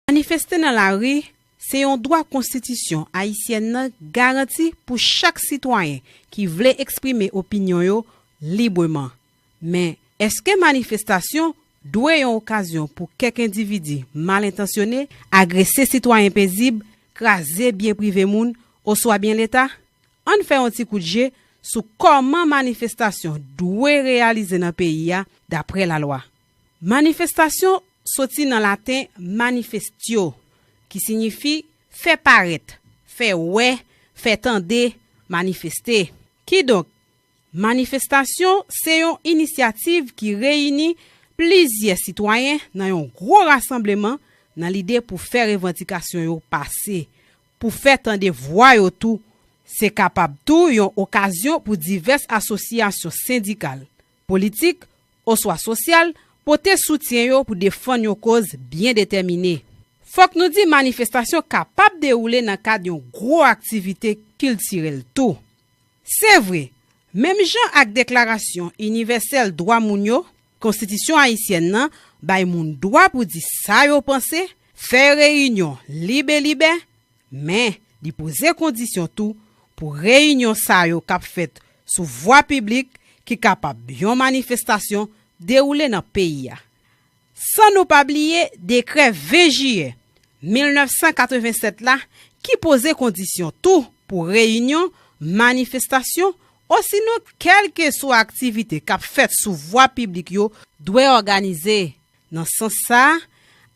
Manifeste nan lari se yon dwa konstitisyon ayisyèn nan garanti pou chak sitwayen ki vle eksprime opinyon yo libreman. Men, èske manifestasyon dwe yon okazyon pou kèk endividi mal entansyone agrese sitwayen pezib, kraze byen prive moun oswa byen leta? Ann fè yon ti kout je sou kòman manifestasyon dwe reyalize nan peyi a dapre lalwa. Manifestasyon soti nan laten manifestio, ki sinyifi fè parèt, fè wè, fè tande, manifeste. Kidonk, manifestasyon se yon inisyativ ki reyini plizyè sitwayen nan yon gwo rasanbleman nan lide pou fè revandikasyon yo pase, pou fè tande vwa yo tou. Se kapab tou yon okazyon pou divès asosyasyon sendikal, politik, oswa sosyal, pote soutyen yo pou defann yon koz byen detèmine. Fòk nou di manifestasyon kapab dewoule nan kad yon gwo aktivite kiltirèl tou. Se vre, menm jan ak Deklarasyon Inivèsèl Dwa Moun yo, Konstitisyon Ayisyèn nan bay moun dwa pou di sa yo panse, fè reyinyon lib e libè, Men, li poze kondisyon tou pou reyinyon sa yo k ap fèt sou vwa piblik ki kapab yon manifestasyon dewoule nan peyi a. San nou pa bliye dekrè 20 jiyè 1987 la ki poze kondisyon tou pou reyinyon, manifestasyon osinon kèlkeswa aktivite k ap fèt sou vwa piblik yo dwe òganize Nan sans sa,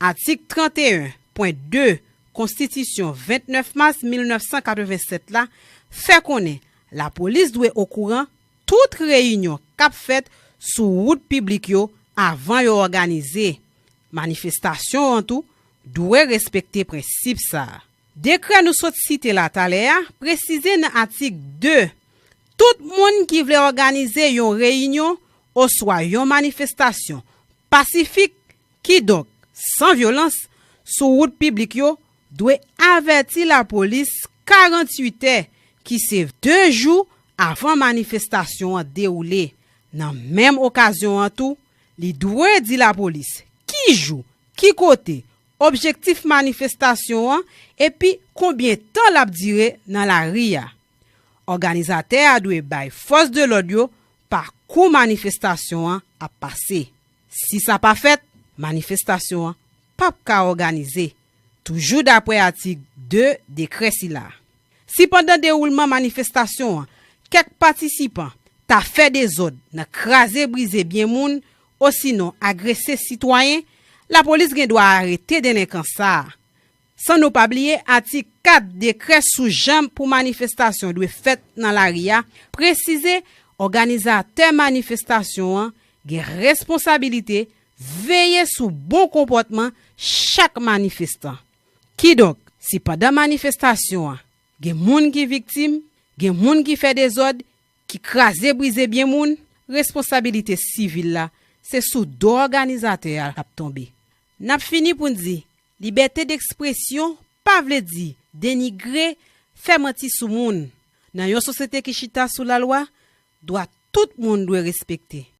atik 31, pwen 2, Konstitisyon 29 mas 1987 la fè konnen lapolis dwe okouran tout reyinyon k ap fèt sou wout piblik yo avan yo òganize manifestasyon an tou dwe respekte prensip sa a. Dekrè nou sot site la talè a presize nan atik 2, tout moun ki vle òganize yon reyinyon oswa yon manifestasyon pasifik, kidonk san vyolans, sou wout piblik yo, dwe avèti lapolis 48 tè, ki se 2 jou, avan manifestasyon an dewoule. Nan menm okazyon an tou, li dwe di lapolis ki jou, ki kote, objektif manifestasyon an epi konbyen tan l ap dire nan lari a. Òganizatè a dwe bay fòs de lòd yo pa kou manifestasyon an ap pase. Si sa pa fèt, manifestasyon an p ap ka òganize, toujou daprè atik 2 dekrè sila. Si pandan dewoulman manifestasyon an kèk patisipan ta fè dezòd nan kraze brize byen moun osinon agrese sitwayen, lapolis gen dwa arete delenkan sa a. San nou pa bliye atik 4 dekrè sou jan pou manifestasyon dwe fèt nan lari a presize òganizatè manifestasyon an gen responsabilite veye sou bon konpòtman chak manifestan. Kidonk, si pandan manifestasyon an gen moun ki viktim, gen moun ki fè dezòd, ki kraze brize byen moun, responsabilite sivil la se sou do òganizatè a l ap tonbe. N ap fini pou n di, libète dekspresyon pa vle di denigre, fè manti sou moun. Nan yon sosyete ki chita sou lalwa, dwa tout moun dwe respekte.